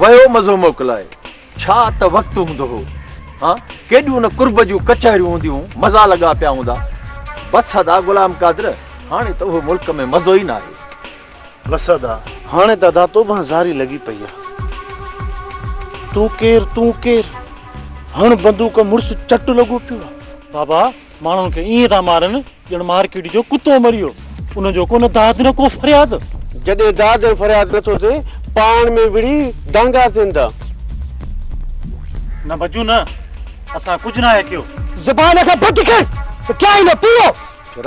ويو مزو موڪلائي ڇا ته وقت هوندو هو ها ڪيڏيون نه قرب جون ڪچهريون هونديون هون مزا لڳا پيا هوندا بس ادا غلام قادر هاڻي ته اهو ملڪ ۾ مزو ئي ناهي بس ادا هاڻي ته ادا تو به زاري لڳي پئي آ تون ڪير تون ڪير هڻ بندوق مڙس چٽ لڳو پيو بابا ماڻهن کي ائين ٿا مارن ڄڻ مارڪيٽ جو ڪتو مريو ان جو ڪو نه داد نه ڪو فرياد. جڏهن داد ۽ فرياد نٿو ٿئي پاڻ ۾ وڙهي دانگا ٿين ٿا. نه ڀڄون نه اسان ڪجهه ناهي ڪيو. زبان کي بند ڪر ته ڪيا ئي نه پيو.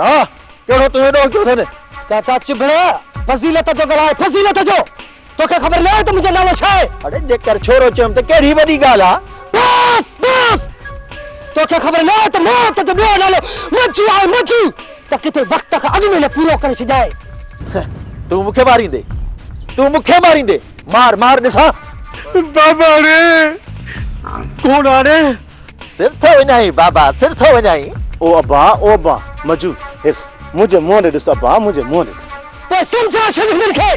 راء ڪهڙو تنهنجو ڏوهه ڪيو اٿن. چاچا چڀڙا فضيلت جو ڳالهاء فضيلت جو. توکي خبر ناهي ته منهنجو نالو ڇا آهي؟ اڙي جيڪر ڇورو چيم ته ڪهڙي وڏي ڳالهه آهي. بس بس توکي خبر ناهي ته موت جو ٻيو نالو مجي آهي مجي ته ڪٿي وقت کان اڳ ۾ نه پورو ڪري ڇڏيائين. تون مونکي ماريندي تون مونکي ماريندي مار مار ڏسان. باباڙي ڪوڙ آڙي. سر ٿو وڃائين بابا سر ٿو وڃائين. او ابا او ابا مجو هرس منهنجي منهن ڏي ڏس ابا منهنجي منهن ڏي ڏس. پوء سمجهاء ڇڏ هنن کي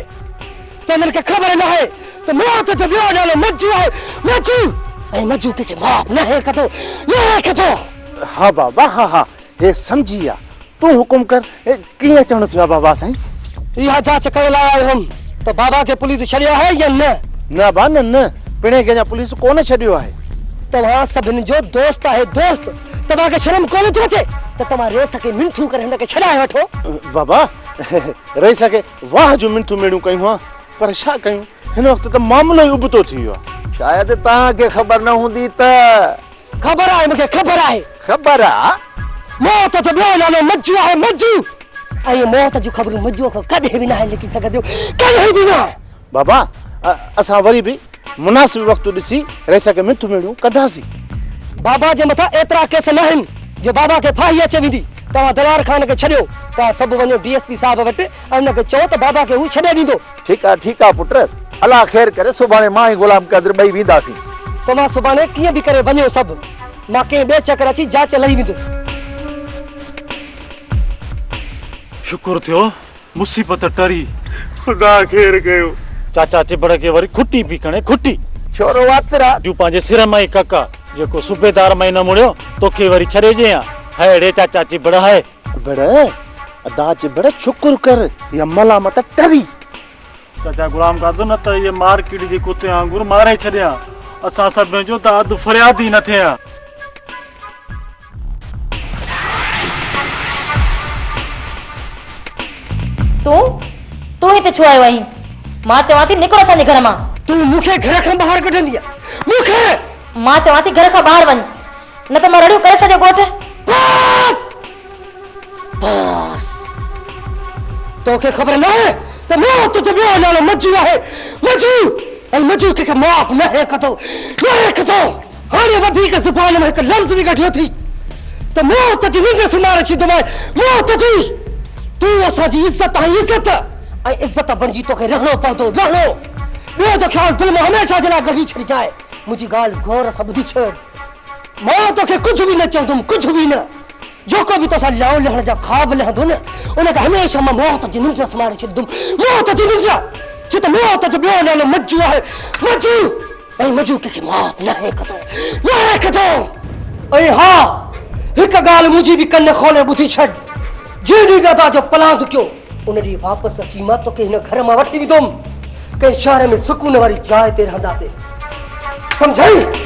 ته هنن کي خبر ناهي ته موت جو ٻيو نالو مجو آهي، مجو ۽ مجو ڪنهن کي معاف ناهي ڪندو، ناهي ڪندو. ها بابا ها ها هي سمجهي ويا تون حڪم ڪر ڪيئن اچڻو ٿيو آهي بابا سائين. اها جاچ ڪرڻ لاء آيو هوم ته بابا کي پوليس ڇڏيو آهي يا نه. نه ابا نه نه پڻهين کي اڃا پوليس ڪونه ڇڏيو آهي. توهان سڀني جو دوست آهي دوست توهان کي شرم ڪونه ٿي اچي ته توهان ريس کي منٿون ڪري هن کي ڇڏائي وٺو. بابا. رئيس کي واهه جون منٿون ميڙيون ڪيون ها پر ڇا ڪيون هن وقت ته معاملو ئي ابتو ٿي ويو آهي. شايد توهان کي خبر نه هوندي ته. خبر آهي مون کي خبر آهي. خبر آ. موت جو ٻيو نالو مجو آهي مجو ۽ موت جون خبرون مجوء کان ڪڏهن به ناهي لڪي سگهنديون ڪڏهن به نه. بابا اسان وري به مناسب وقت ڏسي رئيس کي مٿ ميڙيون ڪنداسين. بابا جي مٿان ايترا ڪيس ناهن جو بابا کي ڦاهي اچي ويندي. توهان دلار خان کي ڇڏيو. توهان سڀ وڃو ڊي ايس پي صاحب وٽ ۽ ان کي چئو ته بابا کي هو ڇڏي ڏيندو. ٺيڪ آهي ٺيڪ آهي پٽ. الله خير ڪري سڀاڻي مان ۽ غلام قادر ٻئي وينداسين. توهان سڀاڻي ڪيئن به ڪري وڃو سڀ. مان ڪنهن ٻئي چڪر اچي جاچ لهي ويندس. شڪر ٿيو مصيبت ٽري، خدا خير ڪيو. چاچا چٻڙ کي وري کٽي پي کڻي، کٽي. ڇورو واتر آ. جون پنهنجي سر مان ئي ڪڪ آ. جيڪو صوبيدار مان ئي نه مڙيو، توکي وري ڇڏي ڏيئي ها. هيء ڙي چاچا چٻڙ هيء. چٻڙ، ادا چٻڙ شڪر ڪر، هيء ملامت ٽري. چاچا غلام قادر نه ته هيء مارڪيٽ جي ڪتي وانگر ماري ڇڏي ها. اسان سڀني جو ته اڌ فرياد ئي نه ٿئي ها. تون تون هتي ڇو آيو آهين مان چوان ٿي نڪر اسان جي گهر مان تون مون کي گهر کان ٻاهر ڪڍندي مون کي مان چوان ٿي گهر کان ٻاهر وڃ نه ته مان رڙيون ڪري ڇڏيو ڳوٺ بس بس توکي خبر نه آهي ته مون تجھو ٻيو نالو مجو آهي مجو ۽ مجو کي معاف نه هي ڪندو نه هي ڪندو هاڻي وڌيڪ زبان مان هڪ لفظ به ڪڍيو ٿي ته مون تجي ننڊ سمهاري ڇڏيندومانء، مون تجي، تون اسان جي عزت آهين عزت ۽ عزت بڻجي توکي رهڻو پوندو رهڻو، ٻيو ته خيال دل مان هميشه جي لاء ڪڍي ڇڏجانء، منهنجي ڳالهه غور سان ٻڌي ڇڏ، مان توکي ڪجهه به نه چوندوم ڪجهه به نه، جيڪو به توسان لائو لهڻ جا خواب لهندو نه ان کي هميشه مان موت جي ننڊ سمهاري ڇڏيندوم، موت جي ننڊ! ڇو ته موت جو ٻيو نالو مجو آهي، مجو! ۽ مجوڪ کي معاف ناهي ڪندو، ناهي ڪندو! ۽ ها! هڪ ڳالهه منهنجي به ڪن کولي ٻڌي ڇڏ، جنهن ڏينهن ڏادا جو پلاند ڪيو، ان ڏينهن واپس اچي مان توکي هن گهر مان وٺي ويندوم، ڪنهن شهر ۾ سڪون واري جاء تي رهنداسين. سمجهيئي؟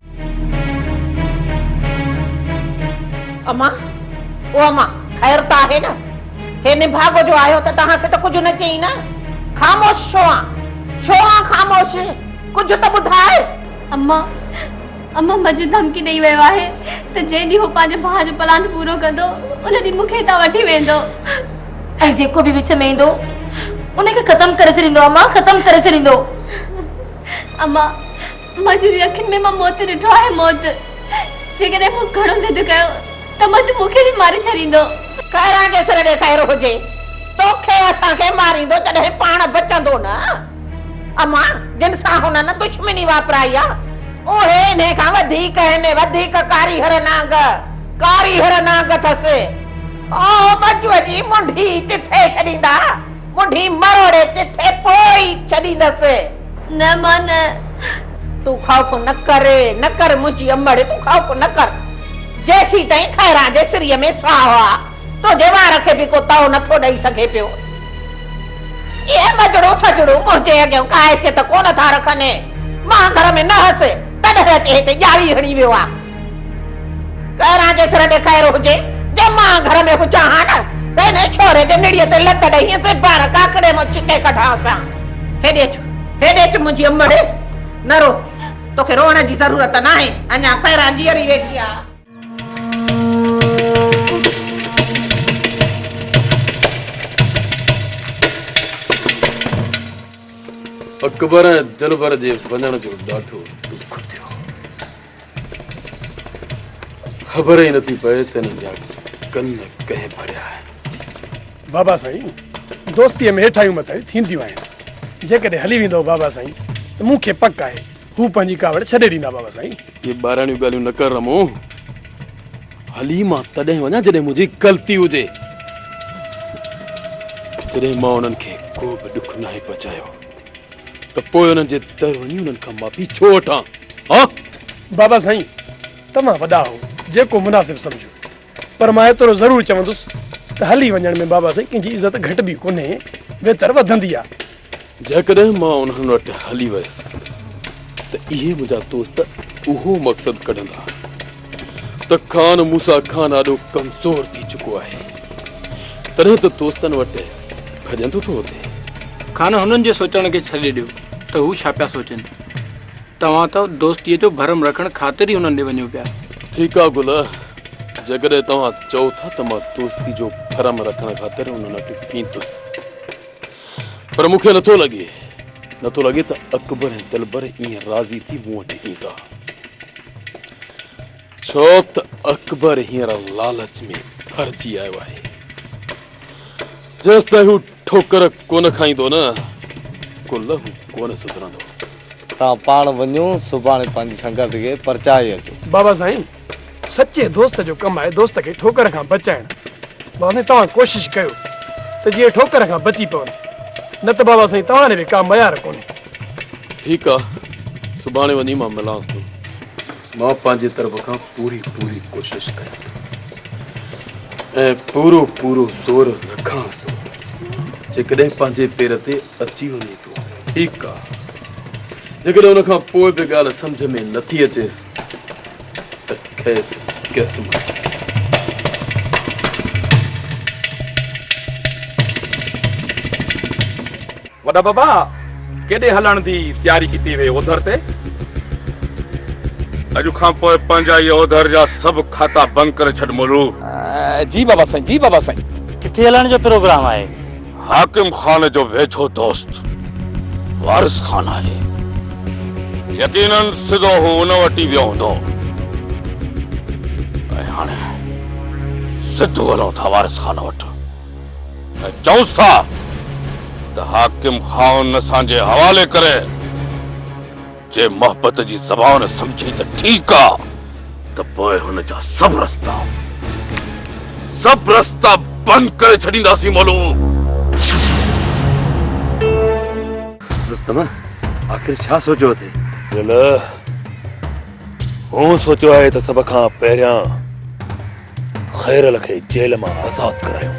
اما، او اما، خير ته آهي نه؟ هي نڀاڳو جو آيو ته توهان کي ته ڪجهه نه چيئي نه؟ خاموش ڇو آن؟ ڇو آن خاموش؟ ڪجهه ته ٻڌاء! اما، اما مجهه ڌمڪي ڏيئي ويو آهي ته جنهن ڏينهن هو پنهنجي ڀاء جو پلاند پورو ڪندو، ان ڏينهن مون کي هتان وٺي ويندو. ۽ جيڪو به وچ ۾ ايندو، ان کي ختم ڪري ڇڏيندو اما، ختم ڪري ڇڏيندو. اما، منجو جي اکين ۾ مان موت ڏٺو آهي موت جيڪڏهن مون گهڻو ضد ڪيو ته منجو مون کي به ماري ڇڏيندو. خيران جيسر ڏي خير هجي توکي اسان کي ماريندو جڏهن پاڻ بچندو نه امان جن سان هنن دشمني واپرائي آ اهي انهي کان وڌيڪ هن وڌيڪ ڪاريهر نانگ ڪاريهر نانگ اٿس او منجو جي منڍي چٿي ڇڏيندا منڍي مروڙي چٿي پوئي ڇڏيندس. نه مان نه. تون خوف نه ڪر، نه ڪر منهنجي امڙ، تون خوف نه ڪر. جيسين تائين خيران جي سريء ۾ ساهه آ، تنهنجي وار کي به ڪو تئو نه ٿو ڏئي سگهي پيو. اهي مجڙون سجڙون منهنجي اڳيان ڪا حيثيت ڪونه ٿا رکن. مان گهر ۾ نه هيس، تڏهن اچي هتي ڄاڙي هڻي ويو آ. ڪهران جي سر ڏي خير هجي جو مان گهر ۾ هجان ها نه ته انهي ڇوري جي نڙيء تي لت ڏئي هينس ۽ پاڻ ڪاڪڙي مان ڇڪي ڪڍانس ها. هيڏي اچ، هيڏي اچ منهنجي امڙي، نه رو، توکي روئڻ جي ضرورت ناهي، اڃا خيران جيئري ويٺي آ. اڪبر ۽ دلبر جي وڃڻ جو ڏاڍو ڏک ٿيو. خبر ئي نٿي پئي ته انهن جا ڪن ڪنهن ڀريا آهن. بابا سائين دوستيء ۾ هيٺاهيون مٿاهيون ٿينديون آهن. جيڪڏهن هلي ويندؤ بابا سائين ته مون کي پڪ آهي هو پنهنجي ڪاوڙ ڇڏي ڏيندا بابا سائين. اهي ٻاراڻيون ڳالهيون نه ڪر رمو. هلي مان تڏهن وڃان جڏهن منهنجي غلطي هجي. جڏهن مان انهن کي ڪو به ڏک ناهي پهچايو. ته پوء انهن جي در وڃي انهن کان معافي ڇو وٺان؟ هان؟ بابا سائين توهان وڏا آهو جيڪو مناسب سمجهو پر مان ايترو ضرور چوندس ته هلي وڃڻ ۾ بابا سائين ڪنهن جي عزت گهٽبي ڪونهي ويتر وڌندي آهي. جيڪڏهن مان انهن وٽ هلي ويس ته اهي منهنجا دوست اهو مقصد ڪڍندا ته خان موسيٰ خان آڏو ڪمزور ٿي چڪو آهي، تڏهن ته دوستن وٽ ڀڄندو ٿو اچي. خان هنن جي سوچڻ کي ڇڏي ڏيو ته هو ڇا پيا سوچين. توهان ته دوستيء جو ڀرم رکڻ خاطر ئي هنن ڏي وڃو پيا. ٺيڪ آهي گل، جيڪڏهن توهان چئو ٿا ته مان دوستي جو ڀرم رکڻ خاطر انهن وٽ ويندس. پر مون کي نه ٿو لڳي نه ٿو لڳي ته اڪبر ۽ دلبر ائين راضي ٿي مون وٽ ايندا ڇو ته اڪبر هينئر لالچ ۾ ڀرجي آيو آهي جيستائين هو ٺوڪر ڪونه کائيندو نه ڪو لهو ڪونه سڌرندو. توهان پاڻ وڃو سڀاڻي پنهنجي سنگت کي پرچائي اچو. بابا سائين! سچي دوست جو ڪم آهي دوست کي ٺوڪر کان بچائڻ بابا سائين توهان ڪوشش ڪيو ته جيئن ٺوڪر کان بچي پون نه ته بابا سائين توهان به ڪا معيار ڪونهي ٺيڪ آ سڀاڻي وڃي مان ملانس ٿو مان پنهنجي طرف کان پوري پوري ڪوشش ڪيان ٿو ۽ پورو پورو زور رکانس ٿو جيڪڏهن پنهنجي پير تي اچي وڃي ٿو. ٺيڪ آ. جيڪڏهن ان کان پوء به ڳالهه سمجهه ۾ نٿي اچيس ته کيس ڪيس مار. وڏا بابا ڪيڏي هلڻ جي تياري ڪتي وئي اوڌر تي؟ اڄ کان پوء پنهنجا اهي اوڌر جا سڀ کاتا بند ڪري ڇڏ مولو. جي بابا سائين جي بابا سائين. ڪٿي هلڻ جو پروگرام آهي؟ حاڪم خان جو ويجهو دوست وارث خان آهي. يقيناً سڌو هو ان وٽ ئي ويو هوندو. ۽ هاڻي سڌو هلون ٿا وارث خان وٽ ۽ چئونس ٿا ته حاڪم خان اسان جي حوالي ڪري. جي محبت جي زبان سمجهي ته ٺيڪ آ ته پوء هن جا سڀ رستا سڀ رستا بند ڪري ڇڏينداسين مولو. رستم آخر ڇا سوچيو اٿئي؟ دل هون سوچيو آهي ته سڀ کان پهريان. خيرل کي جيل مان آزاد ڪرايو.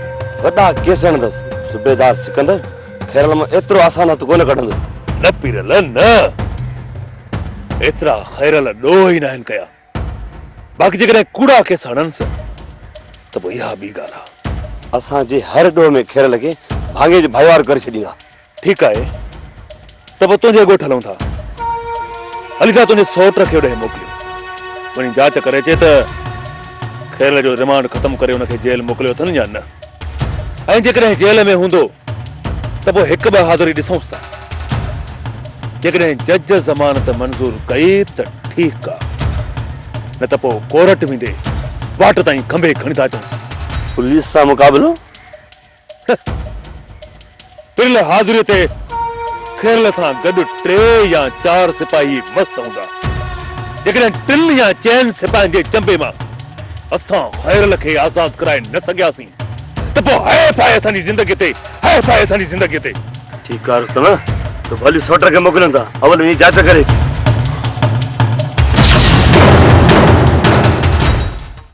وڏا ڪيس هڻندس. صوبيدار سڪندر خيرل مان ايترو آسان هٿ ڪونه ڪڍندو. نه پيرل نه. ايترا خيرل ڏوهه ئي ناهن ڪيا. باقي جيڪڏهن ڪوڙا ڪيس هڻنس ته پوء اها ٻي ڳالهه آ. اسان جي هر ڏوهه ۾ خيرل کي ڀاڱي جو ڀائيوار ڪري ڇڏيندا. ٺيڪ آهي ته پوء تنهنجي ڳوٺ هلون ٿا. علي ٿا تنهنجي سئوٽ کي اوڏانهن موڪليون. وڃي جاچ ڪري اچي ته خيرل جو ريمانڊ ختم ڪري ان کي جيل موڪليو اٿن يا نه. ۽ جيڪڏهن جيل ۾ هوندو ته پوء هڪ ٻه حاضري ڏسونس ٿا. جيڪڏهن جج ضمانت منظور ڪئي ته ٺيڪ آ. نه ته پوء ڪورٽ ويندي واٽ تائين کنڀي کڻي ٿا اچونس. پوليس سان مقابلو؟ پريل حاضريء تي کيرل سان گڏ ٽي يا چار سپاهي مس هوندا. جيڪڏهن ٽن يا چئن سپاهين جي چنبي مان اسان خيرل کي آزاد ڪرائي نه سگهياسين ته پوء هائي ڦائي اسان جي زندگيء تي، هائي ڦائي اسان جي زندگيء تي. ٺيڪ آهي رستم، تو ڀلي سوٽر کي موڪليون ٿا، اول وڃي جاچ ڪري اچ.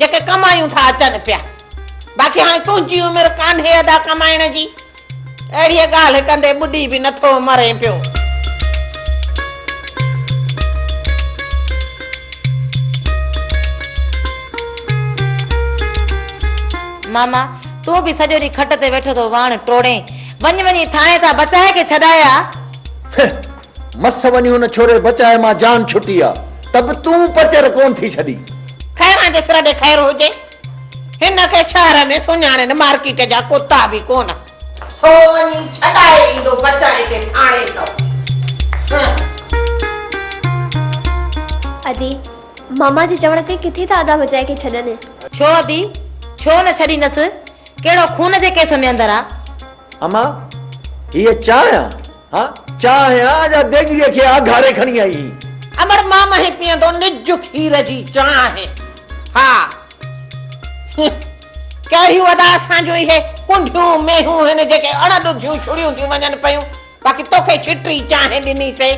جيڪي ڪمايون ٿا اچن پيا باقي هاڻي تنهنجي عمر ڪانهي ادا ڪمائڻ جي اهڙيء ڳالهه ڪندي ٻڏي به نٿو مرين پيو. ماما تون به سڄو ڏينهن کٽ تي ويٺو ٿو واڻ ٽوڙين وڃ وڃي ٿانء تان بچائي کي ڇڏايا. هه مس وڃي ان ڇوري بچائي مان جان ڇٽي آ ته به تون پچر ڪون ٿي ڇڏي. خيران جي سر ڏي خير هجي هن کي شهر ۾ سڃاڻين مارڪيٽ جا ڪتا به ڪون. سو وڃي ڇڏائي ايندو بچائي کي ٿاڻي ته. ادي، ماما جي چوڻ تي ڪٿي ٿا ادا بچائي کي ڇڏن. ڇو ادي ڇو نه ڇڏيندس ڪهڙو خون جي ڪيس ۾ اندر آ. امان هيء چانهه آ. ها چانهه آ جا ديڳڙيء کي آگهاري کڻي آئي هئي. امڙ مان مهين پيئندو نج کير جي چانهه. ها هه ڪهڙيون ادا اسان جون اهي ڪنڍيون مينهون هن جيڪي اڻ ڏڌيون ڇڙيون ٿيون وڃن پيون. باقي توکي ڇٽي چانهه ڏني سي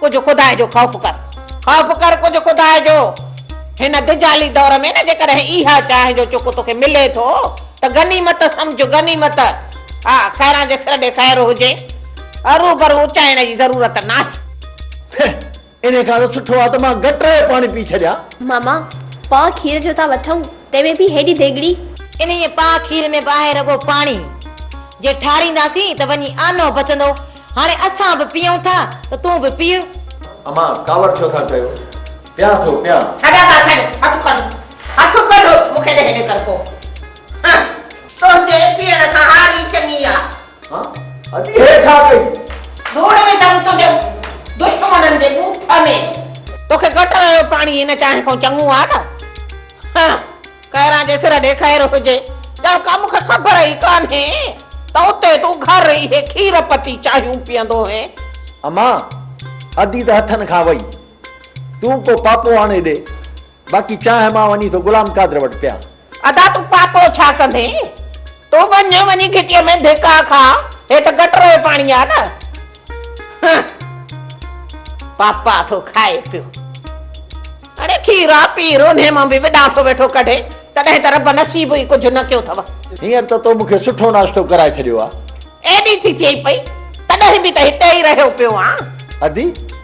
ڪجهه خدا جو خوف ڪر. خوف ڪر ڪجهه خدا جو. هن دجالي دور ۾ نه جيڪڏهن اها چانهه جو چڪ توکي ملي ٿو ته غنيمت سمجهه غنيمت. ها خيران جي سر ڏي خير هجي ارو برو اچائڻ جي ضرورت ناهي. هه انهي کان ته سٺو آهي ته مان گٽر جو پاڻي پي ڇڏيان. ماما پاء کير جو ٿا وٺون تنهن ۾ به هيڏي ديڳڙي. انهيء پاء کير ۾ به آهي رڳو پاڻي. جي ٺارينداسين ته وڃي آنو بچندو. هاڻي اسان به پيئون ٿا ته تون به پيء. امان ڪاوڙ ڇو ٿا ڪيو. پيان ٿو پيان. ڇڏ ادا ڇڏ هٿ ڪڍ هٿ ڪڍ مون کي ڏي هيڏي ڪرڪو. هه. تنهنجي پيئڻ کان هاري چڱي آ. ها ادي هيء ڇا ڪئي؟ ڌوڙ وڌم تنهنجي دشمنن جي ڳوٺ ۾. توکي گٽر جو پاڻي هن چانهه کان چڱو آ نه. ها ڪهران جي سر ڏي خير هجي. ڄڻ ڪا مون کي خبر ئي ڪانهي ته اتي تون گهر اهي کير پتي چانهيون پيئندو هئين. امان ادي ته هٿن کان وئي. تون ڪو پاپو آڻي ڏي. باقي چانهه مان وڃي ٿو غلام قادر وٽ پيان. ادا تون پاپو ڇا ڪندين تون وڃ وڃي گهٽيء ۾ ڌڪا کاء هي ته گٽر جو پاڻي آ نه هه پاپا ٿو کائي پيو اڙي کيرا پي رونهي مان به وڏا ٿو ويٺو ڪڍي تڏهن ته رب نصيب ئي ڪجهه نه ڪيو ٿو. هينئر ته تو مون کي سٺو ناشتو ڪرائي ڇڏيو آ. ايڏي ٿي ٿئي پئي تڏهن به ته هتي ئي رهيو پيو آن. ادي